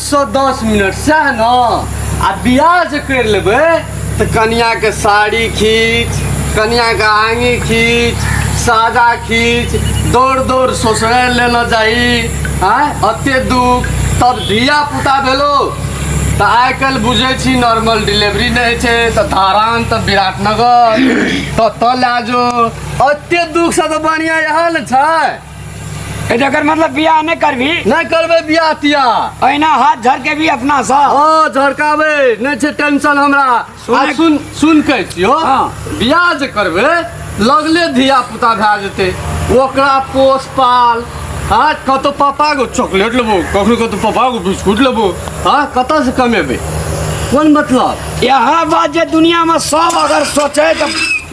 सौ दस मिनट सएह ने आ बियाह जे करि लेबै तऽ कनियाके साड़ी खींच कनियाके आङी खींच सादा खींच दौड़ दौड़ ससुरे लेना चाही आँय एते दुख तब धिया पुता भेलो तऽ आइ काल्हि बुझै छी नॉर्मल डिलीवरी नहि होइ छै तऽ धारान तऽ विराटनगर ततऽ लए जो एते दुखसँ तऽ बढ़िआँ इएह ने छै ए जकर मतलब बियाह नहि करबी नहि करबै बियाह तिया अहिना हाथ झरके भी अपना सा ओ झरकाबै नहि छै टेंशन हमरा आ सुन सुन कहै छियो हाँ। बियाह जे करबै लगले धिया पुता भए जेतै ओकरा पोस पाल हाँ कतौ पापाके चॉकलेट लेबो कखनो कतौ पापाके बिस्कुट लेबो हाँ कतऽसँ कमेबै कोन मतलब यहाँ बात जे दुनियामे सब अगर सोचे तऽ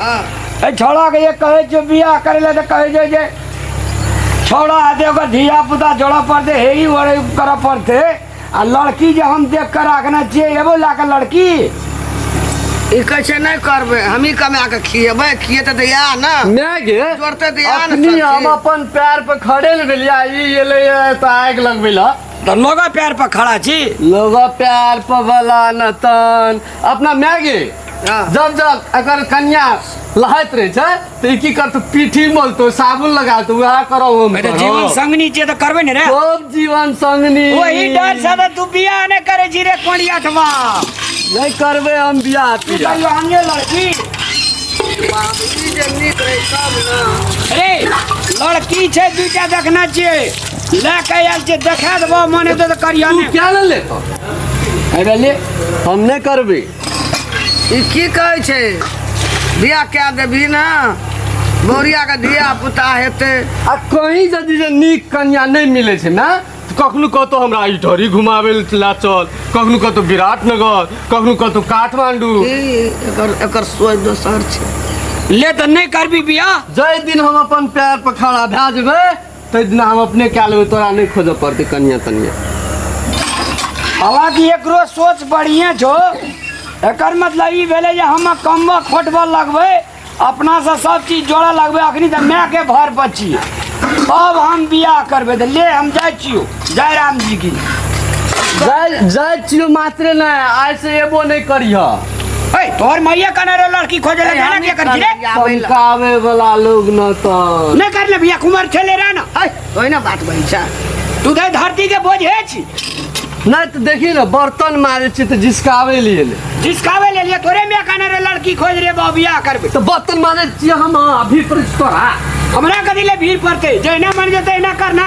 एहि छौड़ाके जे कहै छियै बियाह करै लए तऽ कहै छै जे छौड़ा हेतै ओकर धियापुता जोड़ऽ पड़तै हे ई ओरे करऽ पड़तै आ लड़की जे हम देख कऽ राखने छियै एबो लए कऽ लड़की ई कहै छै नहि करबै हमही कमा कऽ खिएबै खिएतै तऽ इएह ने नहि गे जोड़तै तऽ इएह ने अपनी सब हम चीज। अपन पैर पर खड़े ने भेलियै आ ई एलै तऽ आगि लगबै लए तऽ लोगो पैर पर खड़ा छी लोग पैर पर बला नतन अपना माय गे हाँ। जब जब अगर कन्या लहैत रहे छै तो ई की करतो पीठी मोलतो साबुन लगातो वह करो वो अरे करो। जीवन संगनी जे तो करबे ने रे खूब जीवन संगनी वही डर से तो तू बियाह ने करे जी रे कोड़ी अठवा नहीं करबे हम बियाह तू तियाह। कहियो हंगे लड़की बाबूजी जे नीक रहे तब ना अरे लड़की छै दूटा देखना चाहिए लए के आयल छियै देखा देबो मने दे तऽ करिया तू ने क्या ले ले तो अरे ले हम नहीं करबी ई की कहै छै बियाह कए देबही ने बौरिया के धिया पुता हेतै आ कहीं यदि जे नीक कन्या नहीं मिले छै ना तऽ कखनो कतौ हमरा ई ढोरी घुमावे ला चल कखनो कतौ विराटनगर कखनो कतौ काठमांडू ई एकर एकर सोच दोसर छै ले तऽ नहि करबी बियाह जाहि दिन हम अपन पैर पर खड़ा भए जेबै ताहि दिन हम अपने कए लेबै तोरा नहि खोजऽ पड़तै कनिया तनिया हालांकि एकरो सोच बढ़िए छौ एकर मतलब ई भेलै जे हम कमबऽ खोटबऽ लगबै अपनासँ सब चीज जोड़ऽ लगबै अखनी तऽ मायके भर पर छियै अब हम बियाह करबै तऽ ले हम जाइ छियौ जय राम जी की जय जय चियो मात्र ना ऐसे एबो नहीं करिह ए तोहर मैया कने रे लड़की खोजे ले जाना के कर रे चमकावे वाला लोग न तो नहीं कर ले भैया कुमार खेले रहा ना ए ओए ना बात भाई सा तू दे धरती के बोझ है छी ना तो देखी ना बर्तन मारे छी तो जिसकावे लिए ले जिसकावे ले लिए तोरे में कने रे लड़की खोज रे बाबिया करबे तो बर्तन मारे छी हम अभी पर तोरा हमरा कदी ले भीड़ पड़ते जैना मन जते ना करना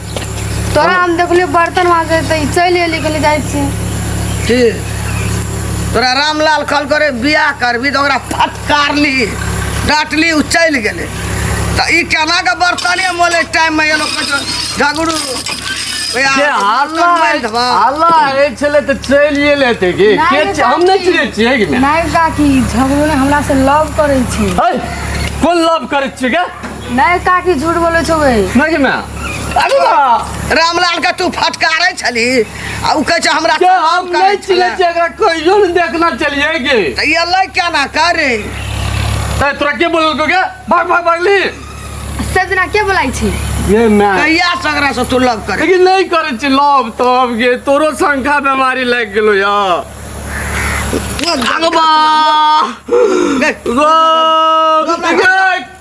तोरा हम देखलियो बर्तन माजे त ई चलि एली कहले जाइ छी की तोरा रामलाल कल करे बियाह करबी तऽ ओकरा फटकारली डांटली उ चलि गेलै तऽ ई केना के बर्तने मोले टाइम में एलो कचो झगड़ू ओए आ, के हल्ला बर्तन मारि देबा। हल्ला ए छले तऽ चलि एले ते के नहि के रे छै? हम नहि काकी। चिन्है छियै कि नहि नहि काकी झगड़ो ने हमरा से लव करै छी है कोन लव करै छियै के नहीं काकी झूठ बोले छो बे नहीं मैं अरे वाह, रामलाल का तू फटकारे छली आ उ कहे छै हमरा के काम हम करे नहीं चिले छले। छे एकरा कहियो नहीं देखना चलिए गे त ई अल्लाह क्या ना करे ए तोरा के बोलल को के भाग भाग भागली सजना के बोलाई छी ये मैं कहिया सगरा से तू लव करे लेकिन नहीं करे छी लव तब गे तोरो संख्या बीमारी लग गेलो या आगो बा देख, गो